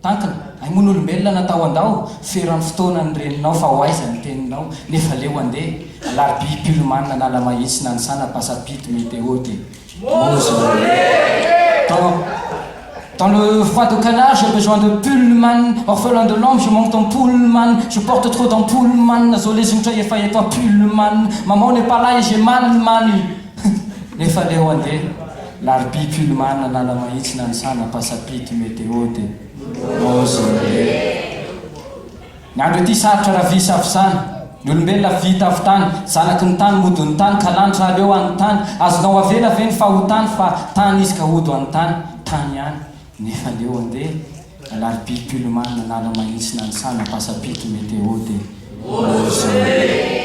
Takina, hay moa n'olombelona natao handao, feran'ny fotoana ny reninao fa ho aiza ny teninao, nefa leo andeha, alarobia pull man analamahitsy nanisana pasapidy meteo de mausolée dans dans le froid de canard j'ai besoin de pull man orphelin de l'homme je manque ton pull man je porte trop ton pull man zao le zotra efa eto à pull man maman n'est pas là et j'ai mal man nefa leo andeha Larbi Pullman Analamahitsy Nanisana Passapity Météo de Beaujolais Ny andro ity sarotra raha vy safosana Ny olombelona vy tafotany Zanaky ny tany mody ho ny tany Ka lanitra aleo any tany Azonao avela ve ny fahotany Fa tany izy ka hody ho any tany Tany ihany Nifandeo andeha, Alarobia Pullman nanala mahitsy nanisana pasapito Météo de Beausoleil.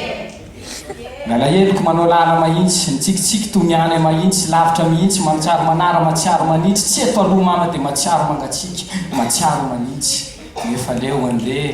Ny alaheloko manao làla mahitsy, Mitsikitsiky toa ny any mahitsy, Lavitra mihitsy, Mahatsiaro manara, Mahatsiaro manitsy, Tsy eto aloha mama dia mahatsiaro mangatsiaka, Mahatsiaro manitsy, Nefa leo andeha,